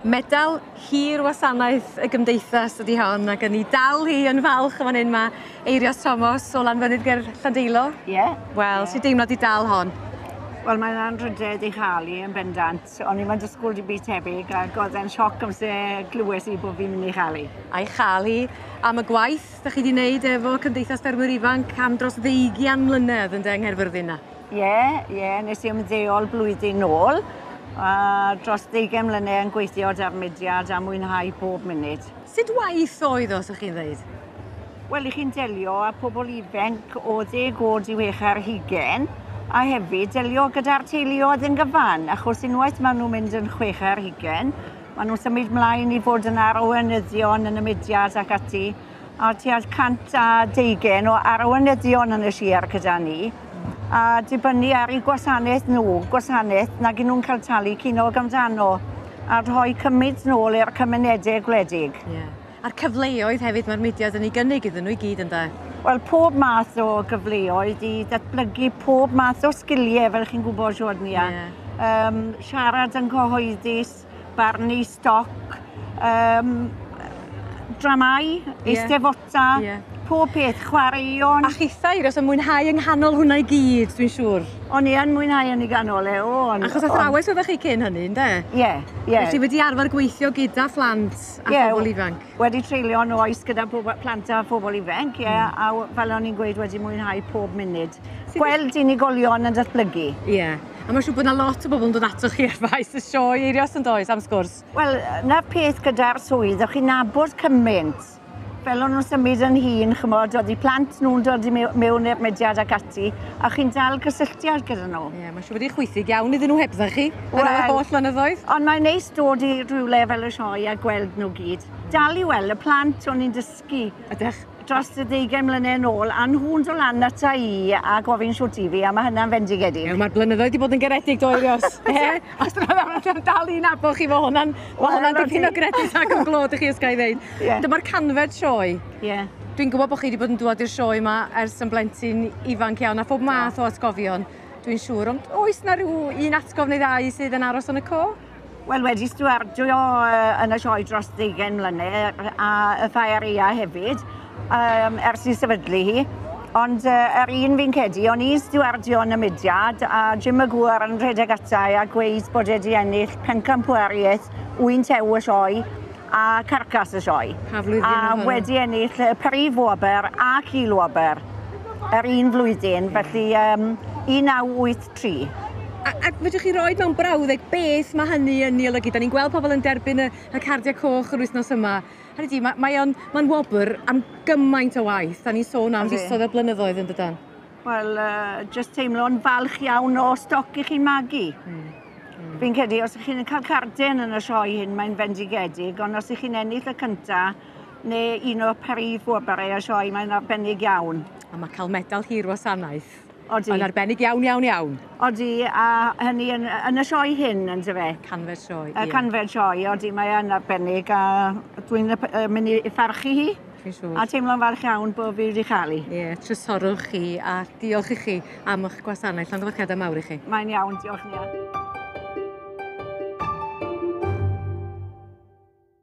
Medal hir wasanaeth y gymdeithas ydy hon, ac yn ei dal hi yn falch yn fan hyn mae Eirios Thomas o Lanfynydd ger Llandeilo. Ie. Yeah. Wel, yeah. sy'n deimlo di dal hon? Wel, mae'n anrhydedd i chael i yn bendant. O'n i'n mynd i sgwrdd i byd tebyg ac oedd e'n sioc amser glywes i bod fi'n mynd i chael i. A'i chael i am y gwaith Beth dach chi 'di neud efo Cymdeithas Ffermwyr Ifanc am dros ddeugian mlynedd ynde yng Nghaerfyrddin 'na? Ie, ie, nes i ymddeol blwyddyn nôl, a dros ddeugain mlynedd yn gweithio da'r mudiad a mwynhau bob munud. Sut waith oedd o, sa chi'n ddeud? Wel, i chi'n delio â pobl ifanc o ddeg oed i wech ar hugain, a hefyd delio gyda'r teuluoedd yn gyfan, achos unwaith maen nhw'n mynd yn chwech ar hugain, Maen nhw'n symud mlaen i fod yn arweinyddion yn y mudiad ac ati, a tua 120 o arweinyddion yn y siar gyda ni, a dibynnu ar eu gwasanaeth nhw, gwasanaeth nag nhw'n cael talu cinog amdano, a rhoi cymyd nôl i'r cymunedau gwledig. Yeah. A'r cyfleoedd hefyd mae'r mudiad yn ei gynnig iddyn nhw i gyd ynda? Wel, pob math o gyfleoedd i ddatblygu pob math o sgiliau, fel chi'n gwybod, Siwrnia. Yeah. Um, siarad yn cyhoeddus, barnu stoc, um, dramau, yeah. eistefota, yeah. pob peth, chwaraeon. A chithau, os yn mwynhau yng nghanol hwnna i gyd, dwi'n siŵr. O'n i yn mwynhau yn ei ganol e, o. On, Achos athrawes oeddech chi cyn hynny, ynddo? Ie, yeah, ie. Yeah. Felly wedi arfer gweithio gyda phlant a yeah, phobl ifanc? wedi treulio yn oes gyda plant a phobl ifanc, ie, yeah, mm. a fel o'n i'n gweud wedi mwynhau pob munud. Gweld unigolion yn datblygu. Ie. Yeah. A mae'n siŵr bod yna lot o bobl yn dod ato chi ar faes y sioe eirio os yn does am sgwrs. Wel, na peth gyda'r swydd, o'ch chi'n nabod cymaint. Fel o'n nhw'n symud yn hun, chymod, oedd i plant nhw'n dod i mewn i'r mediad ac ati, a chi'n dal cysylltiad gyda nhw. Ie, yeah, mae'n siŵr bod i'n chwythig iawn iddyn nhw heb dda chi, well, ar y holl fynyddoedd. Ond mae'n neis dod i rhywle fel y sioe a gweld nhw gyd. Dal i weld y plant o'n i'n dysgu. Ydych? dros y deugain mlynedd yn ôl, a nhw'n dod lan ata i a gofyn shwt i fi, a mae hynna'n fendigedig. Ie, mae'r blynyddoedd wedi bod yn garedig do Eirios. e, os mae'n dal i'n abo chi, mae hwnna'n well, hwnna dipyn o gredit ac yn glod i chi ysga'i ddeud. Yeah. Dyma'r canfed sioe. Yeah. Dwi'n gwybod bod chi wedi bod yn dŵad i'r sioe yma ers yn blentyn ifanc iawn a phob math o atgofion, dwi'n siŵr. Ond oes na rhyw un atgof neu ddau sydd yn aros yn y co? Wel, wedi stiwardio yn y sioe dros ddeugain mlynedd a y Ffaeria hefyd, um, ers i sefydlu hi. Ond uh, yr er un fi'n cedi, o'n i stiwardio yn y mudiad a Jim y Gŵr yn rhedeg atau a gweud bod e wedi ennill pencampwriaeth wynt ew y sioe a Carcass y Sioe, a wedi ennill y Prif Wobr ac Il-Wobr yr un flwyddyn, felly um, 1983. A, a fedrwch chi roi mewn brawddeg beth mae hynny yn ei olygu? Da ni'n gweld pobl yn derbyn y, y cardiau coch yr wythnos yma. Hynny di, mae, mae o'n, mae'n wobr am gymaint o waith. Da ni'n sôn am fisoedd a blynyddoedd yn dydan? Wel, uh, just teimlo'n falch iawn o stoc i chi'n magu. Mm. Mm. Fi'n credu, os ych chi'n cael carden yn y sioe hyn, mae'n fendigedig, ond os ych chi'n ennill y cyntaf, neu un o'r prif wobarau y sioe, mae'n arbennig iawn. A mae cael medal hir wasanaeth. Odi. Mae'n arbennig iawn, iawn, iawn. Odi, a hynny yn, yn y sioe hyn, yn dy fe? Canfer sioe, ie. Canfer sioe, odi, mae'n arbennig, a dwi'n mynd i ffarchu hi. Fi'n siŵr. A teimlo'n falch iawn bod fi wedi chael hi. Ie, yeah, trysorwch chi a diolch i chi am eich gwasanaeth. Llongyfarchiadau mawr i chi. Mae'n iawn, diolch Nia.